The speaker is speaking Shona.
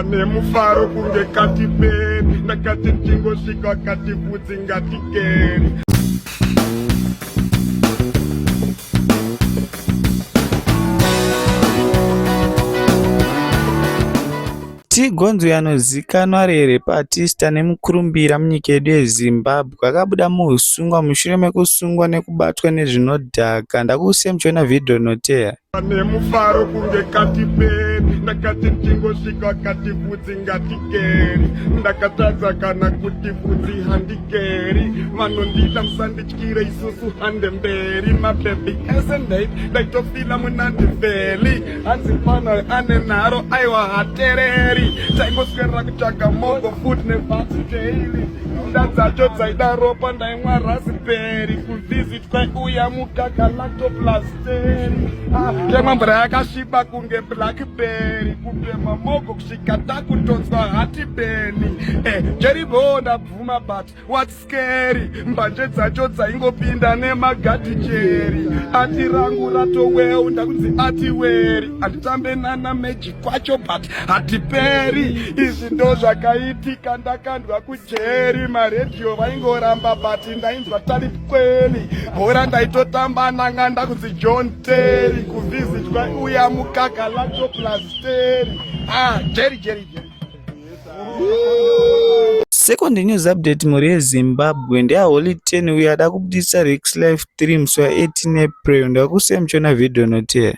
nemufaro kunge kati beni ndakati ndingosvika akati vhudzi ngatikeri Tigonzwi anozikanwa ari repatista nemukurumbira munyika yedu yeZimbabwe akabuda muhusungwa mushure mekusungwa nekubatwa nezvinodhaka. Ndakusiya muchiona vhidhiyo rinoteera. nemufaro kunge katiperi ndakati ndingosvika kati vhudzi ngatikeri ndakatadza kana kuti vhudzi handikeri vanondida musandityire isusu hande mberi mabhebhi ese ndait ndaitofila munandivheli hanzi mfana ane nharo aiwa hatereri taingoswerera kutsvaga mogo fut nevhatsi daily nda dzacho dzaida ropa ndaimwa rasiperi kuvhizitwa uya mukaka lactoplas Temwa mvura yakasviba kunge blackberry kutema moko kusvika takutonzwa hati beni eh, jeribho ndabvuma but what scary mbanje dzacho dzaingopinda nemagati jeri ati rangu ratoweu ndakunzi ati weri anditambe nana meji kwacho but hatiperi izvi ndo zvakaitika ndakandwa kujeri maredhiyo vaingoramba but ndainzwa tari kweli bhora ndaitotamba ndanga ndakunzi john terry kuvhizitwa uya mukaka lato plus terry ah jerry jerry jerry Second news update mhuri yezimbabwe ndeaholy 10 uyo ada kubudisa rex life 3 musi wa 18 april ndakusiya muchiona vhidhiyo noteera